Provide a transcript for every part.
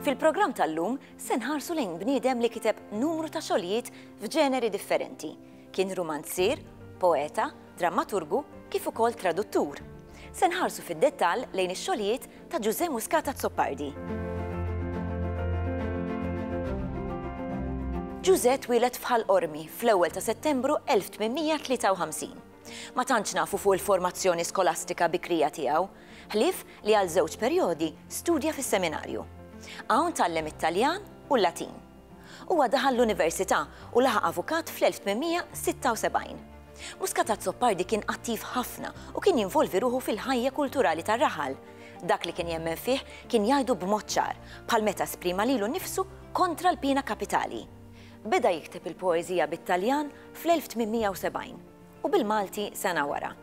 Fil-programm tal-lum se nħarsu lejn bniedem li kiteb numru ta' xogħlijiet f'ġeneri differenti. Kien rumanzier, poeta, drammaturgu kif ukoll traduttur. Se nħarsu fid-dettall lejn ix-xogħlijiet ta' Ġużè Muscat Azzopardi. Ġużè twieled f'Ħal Qormi fl-ewwel ta' Settembru 1853. Ma tantx nafu fuq il-formazzjoni skolastika bikrija tiegħu, ħlief li għal żewġ perjodi studja fis-seminarju. Hawn tgħallem it-Taljan u l-Latin. Huwa daħal l-università u laħaq avukat fl-1876. Muscat Azzopardi kien attiv ħafna u kien jinvolvi ruħu fil-ħajja kulturali tar-raħal. Dak li kien jemmen fih kien jgħidu b'mod ċar, bħal meta esprima lilu nnifsu kontra l-piena kapitali. Beda jikteb il-poeżija bit-Taljan fl-1870 u bil-Malti sena wara.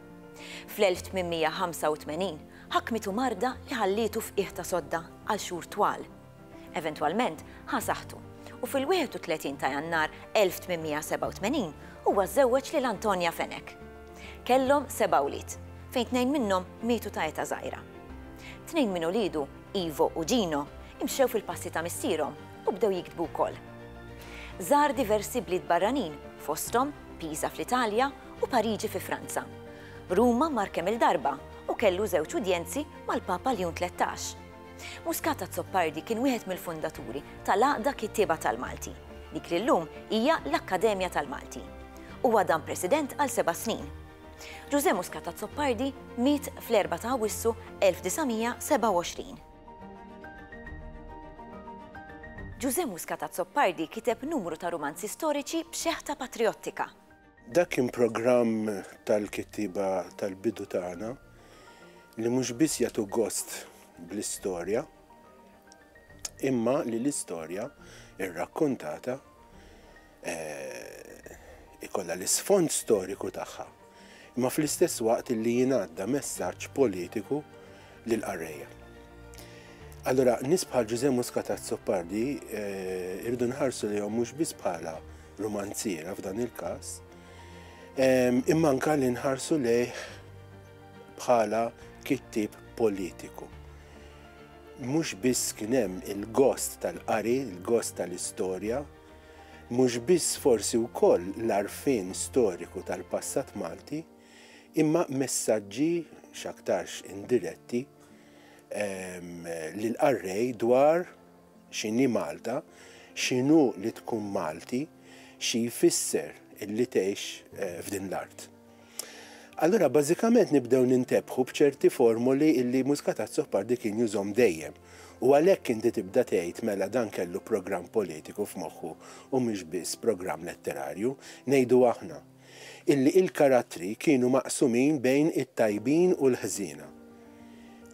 Fl-1885 ħakmitu marda li ħallietu f'qiegħ ta' sodda għal xhur twal. Eventwalment ħa saħħtu u fil-31 ta' Jannar 1887 huwa żżewweġ lil Antonia Fenech. Kellhom seba' wlied, fejn tnejn minnhom mietu ta' età żgħira. Tnejn minn uliedu, Ivo u Gino, imxew fil-passi ta' missierhom u bdew jiktbu wkoll. Żar diversi bliet barranin, fosthom Pisa fl-Italja u Pariġi fi Franza. Ruma mar kemm-il darba u kellu żewġ udjenzi mal-Papa Ljun Tlettax. Muscat Azzopardi kien wieħed mill-fundaturi tal-Għaqda Kittieba tal-Malti, dik li llum hija l-Akkademja tal-Malti. Huwa dam President għal seba' snin. Ġużè Muscat Azzopardi miet fl-4 ta' Awwissu 1927. Ġużè Muscat Azzopardi kiteb numru ta' rumanzi storiċi b'xeħta patrijottika. Dak kien programm tal-kittieba tal-bidu tagħna li mhux biss jagħtu gost bl-istorja, imma li l-istorja rrakkontata eh, ikollha l-isfond storiku tagħha, imma fl-istess waqt li jingħadda messaġġ politiku lill-qarrejja. Allura nies bħal Ġużè Muscat Azzopardi eh, irridu nħarsu lihom mhux biss bħala rumanziera f'dan il-każ, ehm, imma anka li nħarsu lejh bħala kittib politiku. Mhux biss kien hemm il-gost tal-qari, il-gost tal-istorja, mhux biss forsi wkoll l-arfin storiku tal-passat Malti, imma messaġġi, x'aktarx indiretti, lill-qarrej dwar x'inhi Malta, x'inhu li tkun Malti, xi jfisser li tgħix f'din l-art. Allura bażikament nibdew nintebħu b'ċerti formoli li Mużika tAzzopardi kien jużhom dejjem u għalhekk inti tibda tgħid mela dan kellu programm politiku f'moħħu u mhux biss programm letterarju, ngħidu aħna. illi il-karattri kienu maqsumin bejn it-tajbin u l-ħżiena.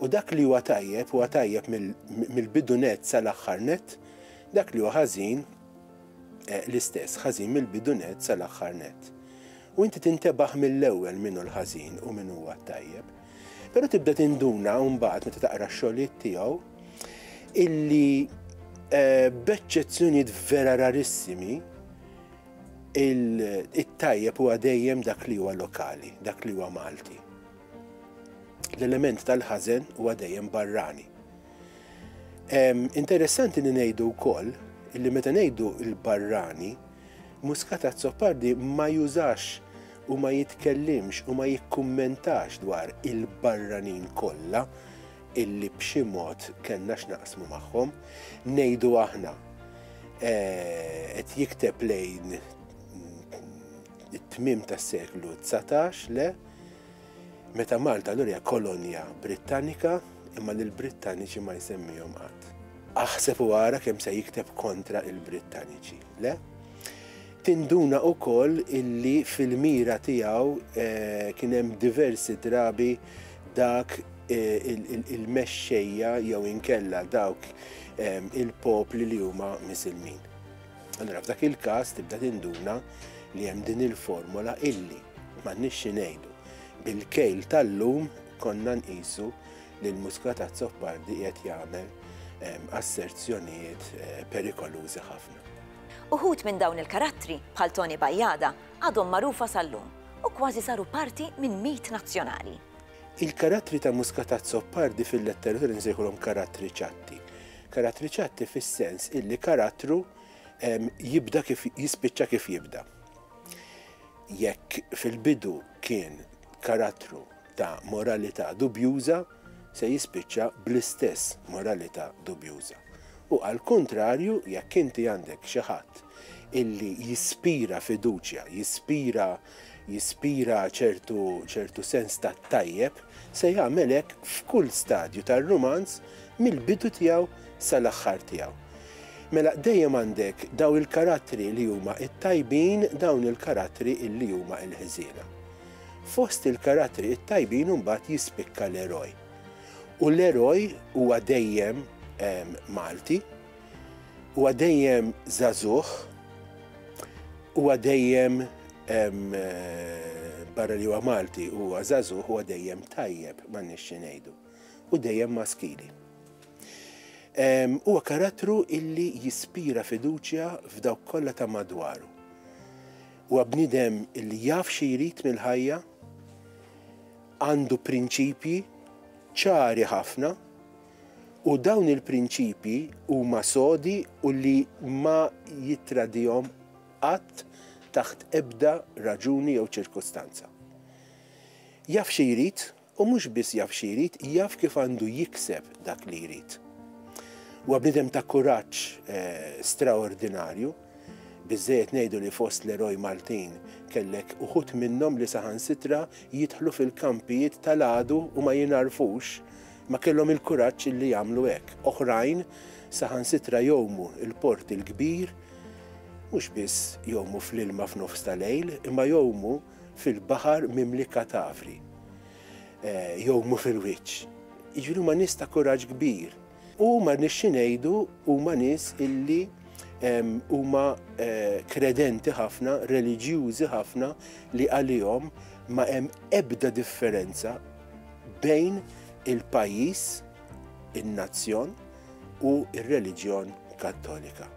U dak li huwa tajjeb huwa tajjeb mill-bidu nett sal-aħħar nett, dak li huwa ħażin l-istess, ħażin mill-bidu nett sal-aħħar nett. U inti tintebaħ mill-ewwel min hu l-ħażin u min huwa t-tajjeb. Però tibda tinduna mbagħad meta taqra x-xogħlijiet tiegħu illi eh, b'eċċezzjonijiet vera rarissimi it-tajjeb huwa dejjem dak li huwa lokali, dak li huwa Malti. L-element tal-ħażen huwa dejjem barrani. Interessanti li ngħidu wkoll li meta ngħidu l-barrani, Muskata Zoppardi ma jużax u ma jitkellimx u ma jikkummentax dwar il-barranin kollha illi b'xi mod kellna x'naqsmu magħhom, ngħidu aħna eh, qed jikteb lejn it-tmim tas-seklu 19 le meta Malta l hija kolonja Brittanika imma l brittaniċi ma jsemmihom qatt. Aħseb u għara kemm se jikteb kontra il-Brittaniċi, le? Tinduna u koll illi fil-mira tijaw eh, kienem diversi drabi dak il-mexxejja jew inkella dawk il-popli li huma misilmin. Allora f'dak il-każ tibda tinduna li hemm din il-formola illi m'għandniex xi ngħidu. Bil-kejl tal-lum konna nqisu li l-Muscat Azzopardi qiegħed jagħmel asserzjonijiet eh, perikolużi ħafna. Uħud minn dawn il-karattri, bħal Tony Bajada, għadhom magħrufa sal-lum u kważi saru parti minn mit nazzjonali. Il-karattri ta' Muscatazzo Pardi fil-letteratura nsejħulhom karattri ċatti. Karattri ċatti fis-sens illi karattru jibda kif jispiċċa kif jibda. Jekk fil-bidu kien karattru ta' moralità dubjuża se jispiċċa bl-istess moralità dubjuża. U għall-kuntrarju, jekk inti għandek xi ħadd illi jispira fiduċja, jispira jispira ċertu ċertu sens tat-tajjeb, se jagħmel hekk f'kull stadju tar-rumanz mill-bidu tiegħu sal-aħħar tiegħu. Mela dejjem għandek dawn il-karattri li huma t-tajbin, dawn il-karattri illi huma l-ħżiena. Fost il-karattri t-tajbin imbagħad jispikka l-eroj. U l-eroj huwa dejjem ehm, Malti, huwa dejjem żagħżugħ, huwa dejjem ehm, eh, barra li huwa Malti huwa żagħżugħ huwa dejjem tajjeb ma nixxi ngħidu u dejjem maskili. Ehm, huwa karattru illi jispira fiduċja f'dawk kollha ta' madwaru. Huwa bniedem li jaf xi jrid mill-ħajja, għandu prinċipji ċari ħafna u dawn il-prinċipji huma sodi u li ma jittradihom qatt taħt ebda raġuni jew ċirkustanza. Jaf xi jrid U mhux biss jaf xi jrid, jaf kif għandu jikseb dak li jrid. Huwa bniedem ta' kuraġġ straordinarju, biżżejjed ngħidu li fost l-eroj Maltin kellek uħud minnhom li saħansitra jidħlu fil-kampijiet tal-għadu u ma jingħarfux, ma kellhom il-kuraġġ li jagħmlu hekk. Oħrajn saħansitra jgħumu l-port il-kbir, mhux biss jgħumu fl-ilma f'nofs ta' lejl, imma jgħumu, fil-baħar mimli katavri, jew mhu fil-wiċċ. Jiġifieri huma nies ta' kuraġġ kbir. U ma nix xi ngħidu huma nies illi huma kredenti ħafna, reliġjużi ħafna li għalihom ma hemm ebda differenza bejn il-pajjiż, in-nazzjon u r-reliġjon Kattolika.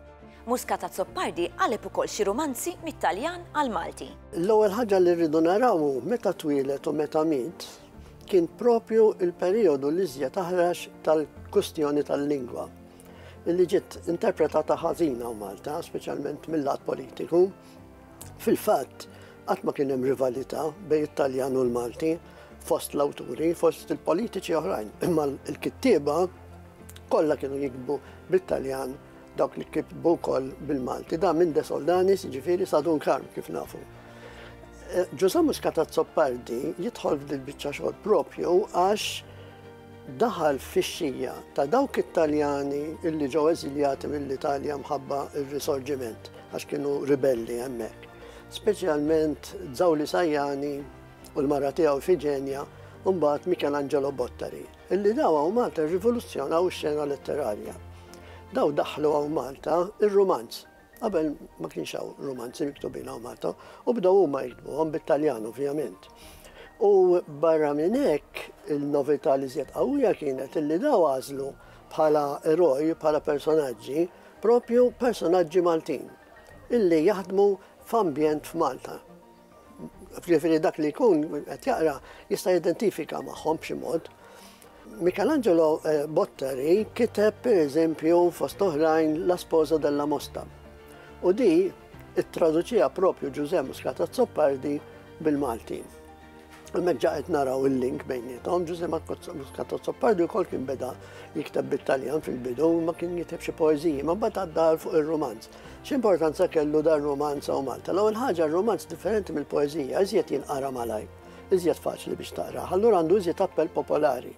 Muscat Azzopardi qaleb ukoll xi rumanzi mit-Taljan għall-Malti. L-ewwel ħaġa li rridu naraw hu meta twieled u meta miet kien propju l-perijodu l-iżjed aħrax tal-kwistjoni tal-lingwa li ġiet interpretata ħażina u Malta, speċjalment mill-lat politiku. Fil-fatt, qatt ma kien hemm rivalità bejn it-Taljan u l-Malti fost l-awturi, fost il-politiċi oħrajn, imma l-kittieba kollha kienu jikbu bit-Taljan Dawk li kitbu wkoll bil-Malti, da minn De Soldanis, ġifieri Sadun Karm kif nafu. Eh, Ġuża Muskata Zoppardi jidħol f'dil biċċa xogħol propju għax daħal fix-xija ta' dawk it-Taljani illi ġew eżiljati mill-Italja mħabba il-risorġiment għax kienu ribelli hemmhekk. Speċjalment Zawli Sajjani u l-mara tiegħu Fiġenja u mbagħad Mikel Angelo Bottari. Illi daw hawn Malta rrivoluzzjonaw ix-xena letterarja. Daw daħħlu hawn Malta ir-rumanz. Qabel ma kienx hawn rumanzi miktubin hawn Malta u bdew huma jiktbuhom bit-Taljan ovvjament. U barra minn hekk il-novità li żjed qawwija kienet illi daw għażlu bħala eroj, bħala personaġġi, propju personaġġi Maltin illi jaħdmu f'ambjent f'Malta. Jiġifieri dak li jkun qed jaqra jista' jidentifika magħhom b'xi mod. Michelangelo eh, Botteri kiteb pereżempju fost oħrajn La Sposa della Mosta. U di it-traduċija propju Ġużè Muscata Zoppardi bil-Malti. Hemmhekk ġaqet naraw il-link bejnietom, Ġużè Muscata Zoppardi wkoll kien beda jikteb bit-Taljan fil-bidu, ma kien jiteb xi poeżiji, ma bad għaddar fuq ir-romanz. X'importanza kellu dan rumanz hawn Malta? L-ewwel ħaġa r-rumanz differenti mill-poeżija, iżjed jinqara malajr, iżjed faċli biex taqrah, allura għandu iżjed appell popolari.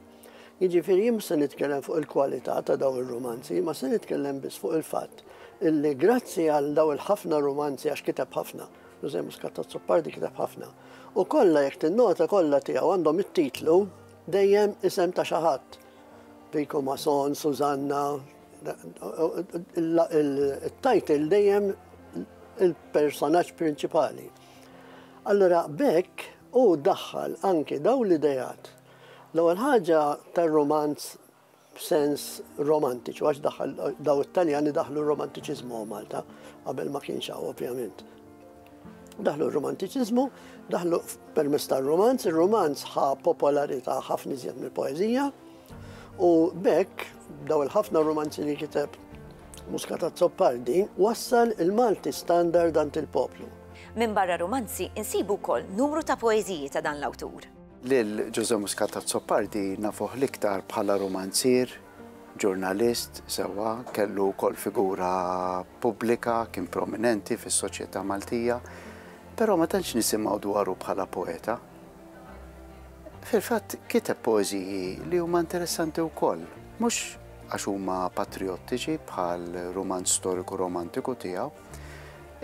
Jiġifieri jien se nitkellem fuq il-kwalità ta' daw ir-rumanzi, ma se nitkellem biss fuq il-fatt illi grazzi għal daw il-ħafna rumanzi għax kiteb ħafna, Jose Muscat Azzopardi kiteb ħafna, u kollha jekk tinnota kollha tiegħu għandhom it-titlu dejjem isem ta' xi ħadd. Vico Mason, Susanna, il-title dejjem il-personaġġ prinċipali. Allora bekk u daħħal anki daw l-idejat. L-ewwel ħaġa tar-romanz b'sens romantiċu, għax daħħal daw it-Taljani daħlu r-romantiċiżmu Malta, qabel ma kienx hawn ovvjament. Daħlu r-romantiċiżmu, daħlu permess tar-romanz, ir-romanz ħa popolarità ħafna iżjed mill-poeżija, U bekk, daw il-ħafna romanzi li kiteb Muscata Zoppardi, wassal il-Malti standard għand il-poplu. Minn barra romanzi, insibu kol numru ta' poeziji ta' dan l-awtur. Lil Ġuże Muscata Zoppardi nafuh l-iktar bħala romanzier, ġurnalist, sewa, kellu kol figura pubblika, kien prominenti fis-soċjetà Maltija, pero ma tantx nisimgħu dwaru bħala poeta. Fil-fatt kiteb poeżiji li huma interessanti wkoll, mhux għax huma patrijottiċi bħal rumanz storiku romantiku tiegħu,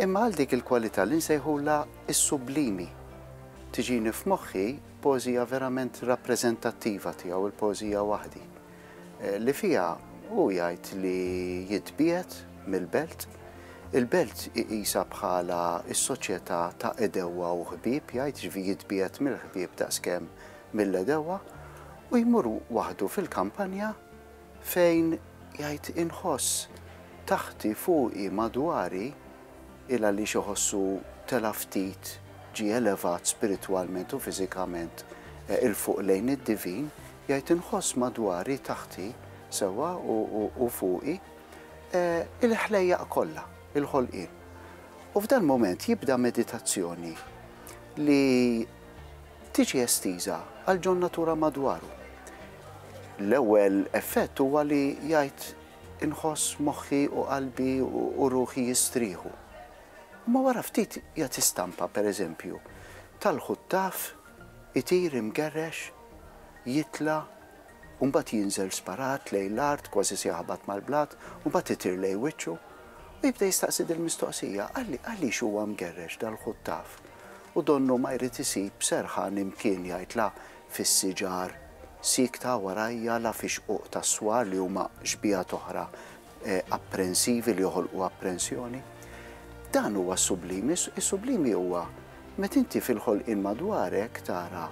imma għal dik il-kwalità li nsejħulha s-sublimi. Tiġini f'moħħi poeżija verament rappreżentattiva tiegħu, il-poeżija Waħdi. li fiha hu jgħid li jitbiegħed mill-Belt. Il-Belt iqisha bħala s-soċjetà ta' għedewwa u ħbieb, jgħid jiġifieri jitbiegħed mill-ħbieb daqskemm mill-għedewwa u jmur waħdu fil-kampanja fejn jgħid inħoss taħti, fuqi, madwari, il għaliex iħossu tela' ftit, ġie elevat spiritwalment u fiżikament 'il fuq lejn id-divin, Jgħid inħoss madwari, taħti, sewwa u fuqi, il-ħlejjaq kollha, il-ħolqien. U f'dal-mument jibda meditazzjoni li tiġi estiża għal John Natura madwaru. L-ewwel effett huwa li jgħid inħoss moħħi u qalbi u ruħi jistrieħu. Imma wara ftit jagħti stampa, pereżempju, tal-ħuttaf Itir imgerrex, jitla' u mbagħad jinżel sparat lejn l-art kważi se jaħbat mal-blat u mbagħad itir lejn wiċċu u jibda jistaqsi dil-mistoqsija, Għaliex huwa mgerrex dal-ħuttaf? U donnu ma jrid isib serħan imkien jgħid la fis-siġar siekta warajja la fix-xquq tas-swar li huma xbieha t'oħra apprensivi li joħolqu apprensjoni. Dan huwa s-sublimi, is-sublimi huwa met inti fil-ħolqien madwarek tara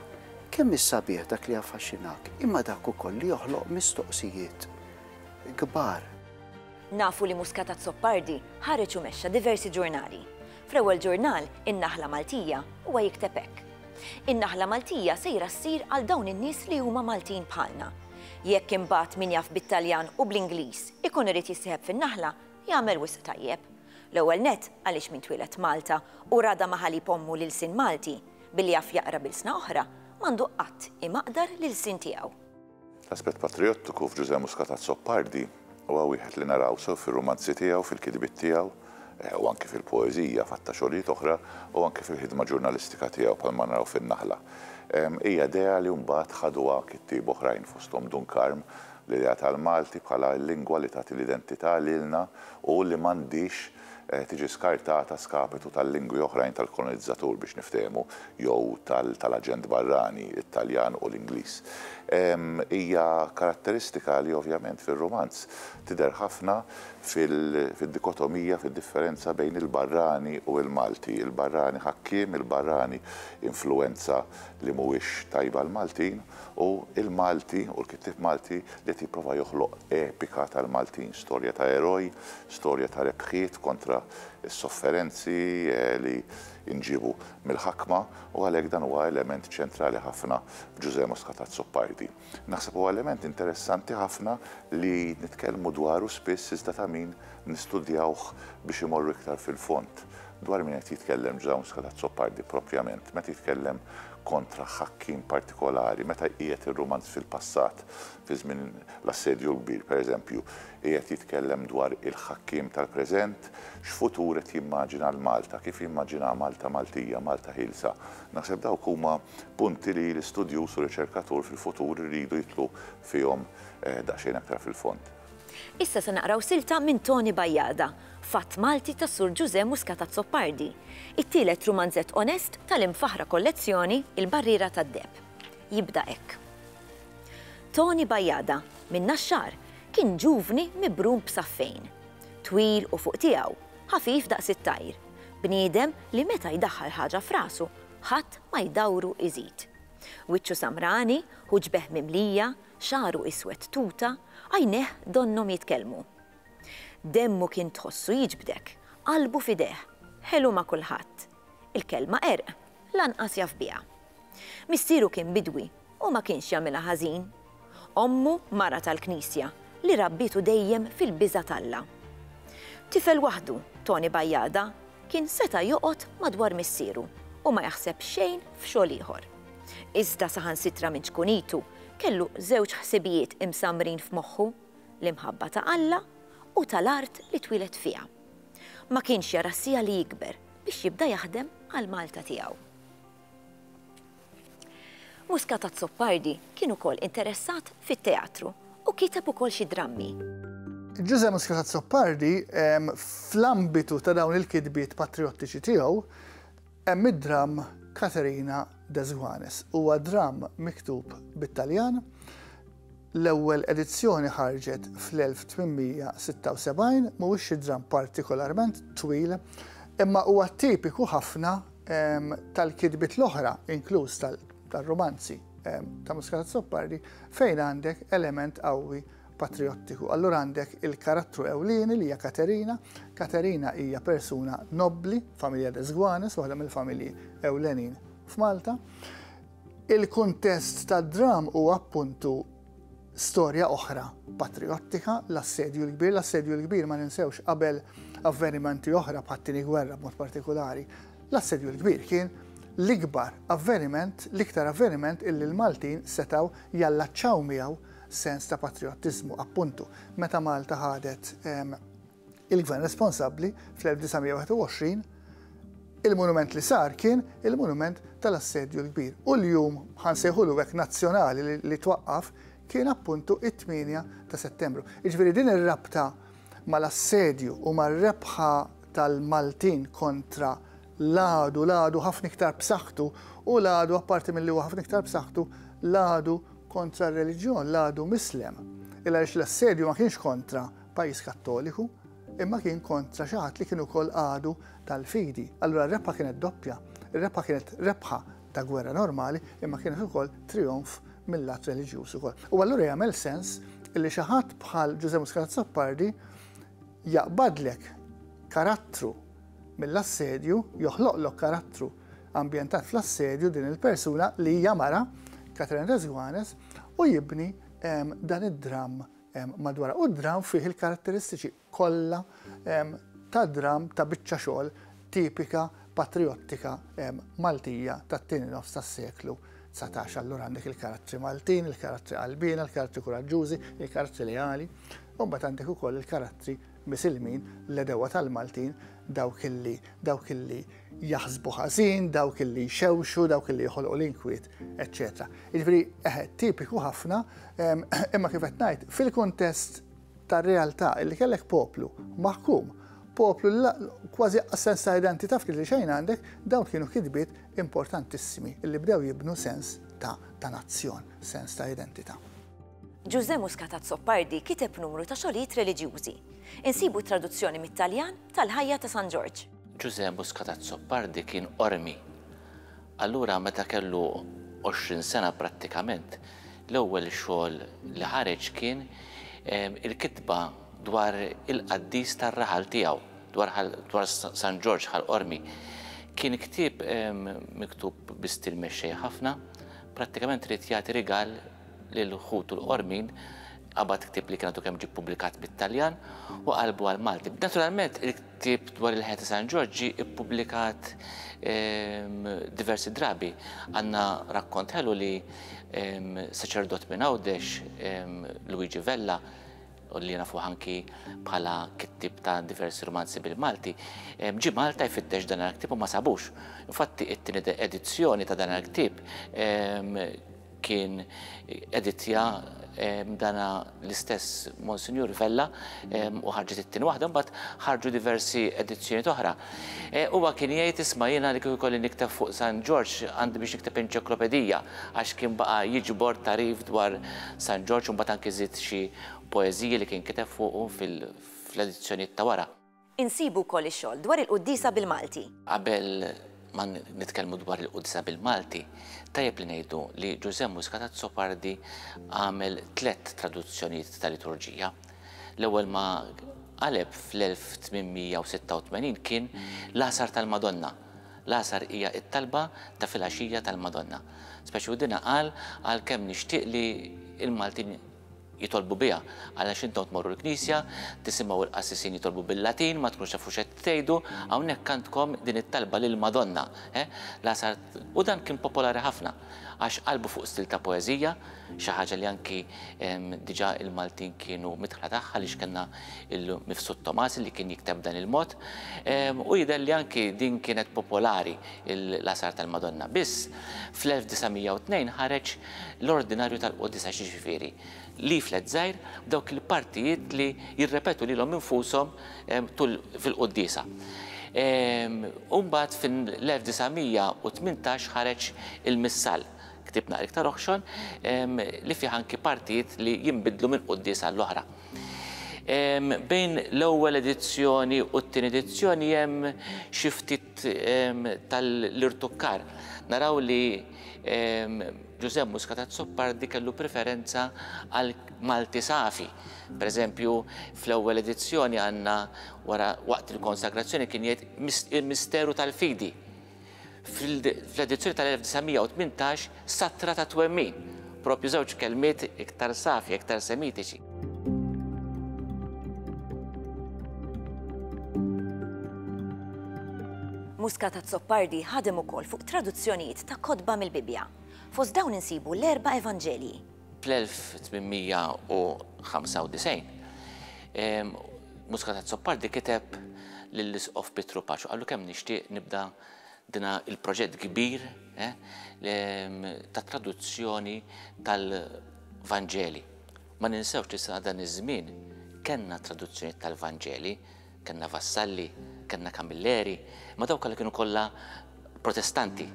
kemm is-sabiħ dak li jaffaxxinak, imma dak ukoll li joħloq mistoqsijiet kbar. Nafu li Muscat Azzopardi ħareġ u mexxa diversi ġurnali. Fl-ewwel ġurnal, In-Naħla Maltija, huwa jikteb hekk, In-Naħla Maltija sejra ssir għal dawn in-nies li huma Maltin bħalna. Jekk imbagħad min jaf bit-Taljan u bl-Ingliż ikun irid jissieħeb fin-Naħla, jagħmel wisq tajjeb. L-ewwel nett għaliex min twieled Malta u rada ma' ħalib ommu l-ilsien Malti, billi jaf jaqra b'ilsna oħra, m'għandu qatt imaqdar l-ilsien tiegħu. L-aspett patrijottiku f'Ġużè Muscat Azzopardi huwa wieħed li naraw sew fir-rumanzi tiegħu, fil-kitbiet tiegħu, u anki fil-poeżija f'għadd ta' xogħlijiet oħra, u anki fil-ħidma ġurnalistika tiegħu bħalma naraw fin-Naħla. Hija idea li mbagħad ħaduha kittieb oħrajn fosthom Dun Karm, l-idea tal-Malti bħala l-lingwa li tagħti l-identità lilna u li m'għandhiex tiġi skartata a skapitu tal-lingwi oħrajn tal-kolonizzatur, biex niftehmu, jew tal-aġent barrani, it-Taljan u l-Ingliż. Hija karatteristika li ovvjament fir-rumanz tidher ħafna fid-dikotomija, fid-differenza bejn il-barrani u l-Malti, il-barrani ħakkiem, il-barrani influwenza li mhuwiex tajb għall-Maltin, u l-Malti u l-kittieb Malti li qed jipprova joħloq epika tal-Maltin, storja ta' eroj, storja ta' rebħiet kontra s-sofferenzi li nġiebu mill-ħakma u għalhekk dan huwa element ċentrali ħafna f'Ġużè Muscatat Zuccardi. Naħseb huwa element interessanti ħafna li nitkellmu dwaru spiss iżda ta' min nistudjawh biex imorru iktar fil-fond. Dwar min qed jitkellem Ġużè Muscatat Zuccardi propjament meta jitkellem kontra ħakkiem partikolari, meta jqiegħed ir-rumanz fil-passat, Fi żmien l-Assedju l-Kbir, pereżempju, qiegħed jitkellem dwar il-ħakkiem tal-preżent, x'futur qed jimmaġina għal Malta, kif jimmaġinaha Malta Maltija, Malta ħielsa. Naħseb dawk huma punti li l-istudjuż u r-riċerkatur fil-futur iridu jidħlu fihom daqsxejn aktar fil-fond. Issa se naqraw silta minn Toni Bajada, Fatt Malti ta' Sur Ġużè Muscat Azzopardi, it-tielet rumanzett onest tal-imfaħħra kollezzjoni Il-Barriera tad-Deheb. Jibda hekk. Tony Bajada, minn Naxxar, kien ġuvni mibrum b'saffejn. Twil u fuq tiegħu, ħafif daqs it-tajr. Bniedem li meta jdaħħal ħaġa f'rasu, ħadd ma jdawru iżid. Wiċċu samrani, ħuġbeh mimlija, xagħru iswed tuta, għajnejh donnhom jitkellmu. Demmu kien tħossu jiġbdek, qalbu f'idejh, ħelu ma' kulħadd. Il-kelma qerq lanqas jaf biha. Missieru kien bidwi u ma kienx jagħmilha ħażin. Ommu mara tal-Knisja li rabbietu dejjem fil-biża' t'Alla. Tifel waħdu, Toni Bajada, kien seta' joqgħod madwar missieru u ma jaħseb xejn f'xogħol ieħor. Iżda saħansitra minn ċkunitu kellu żewġ ħsibijiet imsammrin f'moħħu, l-imħabba ta' Alla u tal-art li twieled fiha. Ma kienx jara s-siegħa li jikber biex jibda jaħdem għall-Malta tiegħu. Muscat Azzopardi kien ukoll interessat fit-teatru u kiteb ukoll xi drammi. Ġużè Muscat Azzopardi, fl-ambitu ta' dawn il-kitbiet patrijottiċi tiegħu, Hemm id-dramm Caterina de Zuanes. Huwa dramm miktub bit-Taljan. L-ewwel edizzjoni ħarġet fl-1876, mhuwiex xi dramm partikolarment twil, imma huwa tipiku ħafna tal-kitbiet l-oħra, inkluż tar-rumanzi ta' Muscat Azzopardi, fejn għandek element qawwi patrijottiku. Allura għandek il-karattru ewlieni li hija Katerina. Katerina hija persuna nobbli, familja Desguanes, waħda mill-familji ewlenin f'Malta. Il-kuntest tad-dram huwa appuntu storja oħra patriottika, l-assedju l-kbir, l-assedju l-kbir ma ninsewx qabel avvenimenti oħra bħat-tieni gwerra b'mod partikolari. L-assedju l-kbir kien l-ikbar avveniment, l-iktar avveniment illi l-Maltin setaw jallaċċaw miegħu sens ta' patriottiżmu, appuntu, meta Malta ħadet il-Gvern responsabbli fl-1921, il-monument li sar kien il-monument tal-Assedju l-Kbir. U l-jum, ħa nsejħulu hekk, nazzjonali li twaqqaf kien appuntu it-8 ta' Settembru. Jiġifieri din ir-rabta mal-assedju u mar-rebħa tal-Maltin kontra l-għadu, l-għadu ħafna iktar b'saħħtu, u l-għadu apparti milli huwa ħafna iktar b'saħħtu, l-għadu kontra r-reliġjon, l-għadu Mislem. Il għaliex l-assedju ma kienx kontra pajjiż Kattoliku, imma kien kontra xi ħadd li kien ukoll għadu tal-fidi. Allura r-rebħa kienet doppja, ir-rebħa kienet rebħa ta' gwerra normali, imma kienet ukoll trijonf mill-lat reliġjuż ukoll. U allura jagħmel sens li xi ħadd bħal Ġuże Muscat Sappardi jaqbadlek karattru mill-assedju joħloqlok karattru ambjentat fl-assedju din il-persuna li hija mara, Catherine Resguanes, u jibni dan id-dramm madwarha. U d-dramm fih il-karatteristiċi kollha ta' dramm ta' biċċa xogħol tipika patrijottika Maltija tat-tieni nofs tas-seklu 19. Allura għandek il-karattri Maltin, il-karattri qalbiena, il-karattri kuraġġużi, il-karattri leali, u mbagħad għandek ukoll il-karattri Misilmin, l-għedewwa tal-Maltin, dawk li, dawk li jaħsbu ħażin, dawk li jxewxu, dawk li joħolqu l-inkwiet, eċċetera. Jiġifieri eħe, tipiku ħafna, imma kif qed ngħid, fil-kuntest tar-realtà li kellek poplu maħkum, poplu kważi sens ta' identità ftit li xejn għandek, dawn kienu kitbiet importantissimi li bdew jibnu sens ta' nazzjon, sens ta' identità. Ġużè Muscat Azzopardi kiteb numru ta' xogħlijiet reliġjużi. Insibu t-traduzzjoni mit-Taljan tal-ħajja ta' San Ġorġ. Ġużè Muscat Azzopardi kien qormi. Allura meta kellu għoxrin sena prattikament, l-ewwel xogħol li ħareġ kien il-kitba dwar il-qaddis tar-raħal tiegħu, dwar San Ġorġ Ħal Qormi. Kien ktieb miktub bi stil mexxej ħafna, prattikament ried jagħti rigal lil ħutu l-qormin, qabad ktieb li kien għadu kemm ġie pubblikat bit-Taljan u qalbu għal Malti. Naturalment, il-ktieb dwar il-ħajja ta' San Ġorġ ġie ippubblikat ehm, diversi drabi. Għandna rakkont ħelu li ehm, saċerdot minn Għawdex, ehm, Luigi Vella, u li nafu ħanki bħala kittib ta' diversi romanzi bil-Malti, ġi Malta jfittex dan il-ktib u ma sabux. Infatti, it-tini edizzjoni ta' dan il-ktib kien editja dana l-istess Monsinjur Vella u ħarġet it-tin waħda mbagħad ħarġu diversi edizzjoni oħra. E, huwa kien jgħid isma' jiena li kieku kolli nikteb fuq San Ġorġ għandi biex nikteb enċiklopedija għax kien baqa' jiġbor tarif dwar San Ġorġ u mbagħad anki żid xi poeżiji li kien kiteb fuqu fil-edizzjonijiet ta' wara. Insibu wkoll ix-xogħol dwar il-quddiesa bil-Malti. Qabel ma nitkellmu dwar il-quddiesa bil-Malti, tajjeb li ngħidu li Ġużè Muscat Azzopardi għamel tliet traduzzjonijiet ta' liturġija. L-ewwel ma qaleb fl-1886 kien l-Għasar tal-Madonna. L-Għasar hija t-talba ta' filgħaxija tal-Madonna. Speċi u dinha qal għalkemm nixtieq li l-Maltin jitolbu biha, għalax intom tmorru l-knisja, tisimgħu l-qassisin jitolbu bil-Latin, ma tkunux tafu x'qed tgħidu, hawnhekk għandkom din it-talba lill-Madonna, eh, Lażar, u dan kien popolari ħafna, għax qalbu fuq stil ta' poeżija, xi ħaġa li anki diġà il-Maltin kienu midħla tagħha għaliex kellna l-mifsud Tomasi li kien jikteb b'dan il-mod, u jidher li anki din kienet popolari l-Lażar tal-Madonna, biss fl-1902 ħareġ l-ordinarju tal-quddiesa, jiġifieri, leaflet żgħir b'dawk il-partijiet li jirrepetu lilhom infushom tul fil-quddiesa. U mbagħad fil-1918 ħareġ il-Missal, ktieb naqra iktar oħxon, li fih anki partijiet li jinbidlu minn quddiesa għall-oħra. Bejn l-ewwel edizzjoni u t-tieni edizzjoni hemm xi ftit tal-irtukkar. Naraw li Ġużè Muscat Azzopardi kellu preferenza għal Malti safi. Per eżempju, fl-ewwel edizzjoni għandna wara waqt il-konsagrazzjoni kien jgħid il-misteru tal-fidi. Fl-edizzjoni tal-1918 Sattra ta' twemmin, proprju żewġ kelmiet iktar safja, iktar semitiċi. Muscat Azzopardi ħadem ukoll fuq traduzzjonijiet ta' kotba mill-Bibbja. Fost dawn insibu l-erba' Evanġelji. Fl-1895, Muscat Azzopardi kiteb lill-Isqof Pietru Paċu qallu kemm nixtieq nibda Din hu l-proġett kbir tat-traduzzjoni tal-Vanġeli. Ma ninsewx li sa dan iż-żmien kellna traduzzjonijiet tal-Vanġeli, kellna Vassalli, kellna Camilleri, imma dawn kollha kienu kollha Protestanti.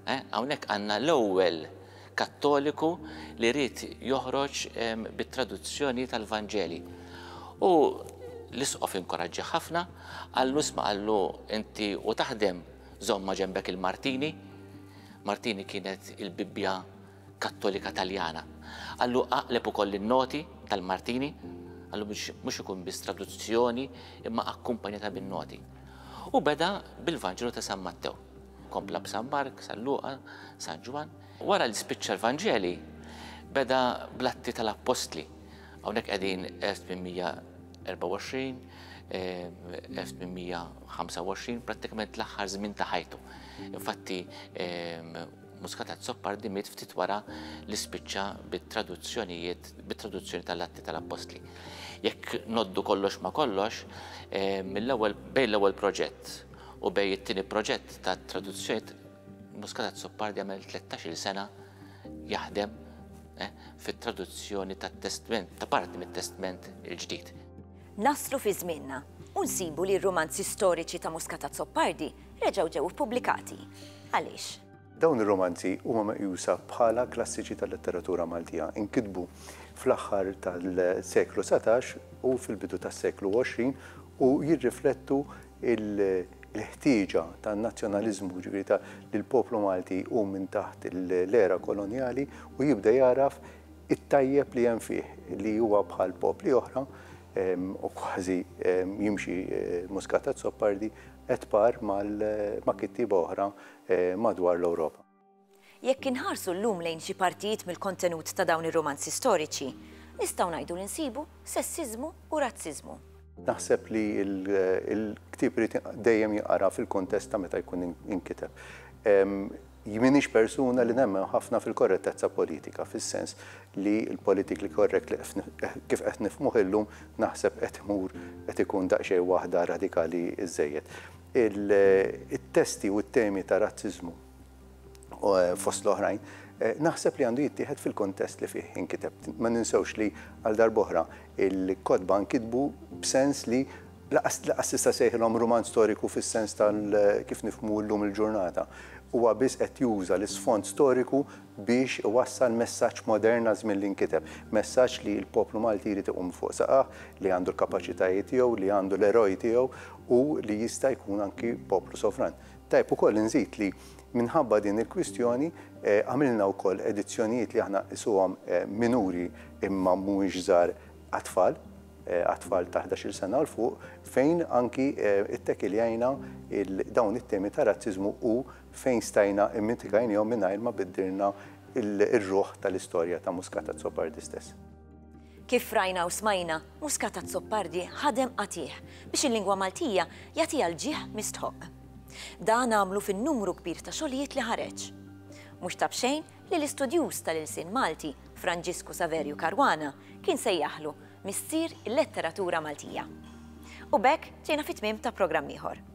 Hawnhekk għandna l-ewwel Kattoliku li ried joħroġ bit-traduzzjoni tal-Vanġeli. U l-Isqof inkoraġġjah ħafna, qallu isma' qallu inti u taħdem żomm ma' ġenbek il-Martini. Martini kienet il-Bibbja Kattolika Taljana. Qallu aqleb ukoll in-noti tal-Martini, qallu biex mhux ikun biss traduzzjoni imma akkumpanjata bin-noti. U beda bil-Vanġelu ta' San Mattew. Kompla b'San Mark, San Luqa, San Ġwann. Wara li spiċċa l-Vanġeli, beda bl-Atti tal-Appostli. Hawnhekk qegħdin 1824, 1825, prattikament l-aħħar żmien ta' ħajtu. Infatti, Muscatat Soppardi miet ftit wara li spiċċa bit-traduzzjonijiet, bit-traduzzjoni tal-Atti tal-Appostli. Jekk noddu kollox ma kollox, mill-ewwel bejn l-ewwel proġett U bejn it-tieni proġett ta' traduzzjoni Muscat Azzopardi għamel tlettax-il sena jaħdem fit-traduzzjoni tat-Testment, ta' parti mit-Testment il-Ġdid. Naslu fi żmienna u nsibu li r-rumanzi storiċi ta' Muscat Azzopardi reġgħu ġew ippubblikati. Għaliex? Dawn ir-rumanzi huma meqjusa bħala klassiċi tal-letteratura Maltija. Inkitbu fl-aħħar tal-seklu satax u fil-bidu tas-seklu għoxrin u jirriflettu il-ħtieġa tan-nazzjonaliżmu, jiġifieri ta' li l-poplu Malti jqum minn taħt l-era kolonjali u jibda jagħraf it-tajjeb li hemm fih, li huwa bħal popli oħra u kważi jimxi muscat ad soppardi et par ma' kittieba oħra madwar l-Ewropa. Jekk inħarsu llum lejn xi partijiet mill-kontenut ta' dawn ir-rumanzi storiċi, nistgħu ngħidu li nsibu sessiżmu u razziżmu. Naħseb li l-ktieb irid dejjem jinqara fil-kuntest ta' meta jkun inkiteb. M'iniex persuna li nemmen ħafna fil-korrettezza politika, fis-sens li l-politically correct li kif qed nifhmuh illum naħseb qed imur qed ikun daqsxejn waħda radikali żżejjed. it-testi u t-temi ta' razziżmu fost l-oħrajn, naħseb li għandu jittieħed fil-kuntest li fih inkiteb. Ma ninsewx li għal darb'oħra il-kotba nkitbu b'sens li lanqas lanqas tista' ssejħilhom rumanz storiku fis-sens ta' kif nifhmu llum il-ġurnata. Huwa biss qed juża l-isfond storiku biex iwassal messaġġ modern għaż-żmien li nkiteb. Messaġġ li l-poplu Malti jrid iqum fuq saqajh, li għandu l-kapaċitajiet tiegħu, li għandu l-eroj tiegħu u li jista' jkun anki poplu sovran. Tajjeb ukoll inżid li minħabba din il-kwistjoni għamilna wkoll edizzjonijiet li aħna nqisuhom minuri imma mhumiex żgħar għat-tfal, għat-tfal ta' ħdax-il sena u 'l fuq, fejn anki ttekiljajna dawn it-temi ta' razziżmu u fejn stajna immitigajniehom mingħajr ma biddilna r-ruħ tal-istorja ta' Muscat Azzoppardi stess. Kif rajna u smajna, Muscat Azzopardi ħadem qatigħ biex il-lingwa Maltija jagħtiha l-ġieħ mistħoqq. Dan għamlu fin-numru kbir ta' xogħlijiet li ħareġ. Mhux ta' b'xejn li l-istudjuż tal-ilsien Malti, Franġisku Saverju Caruana, kien sejjaħlu Missier il-Letteratura Maltija. U b'hekk ġejna fit-tmiem ta' programm ieħor.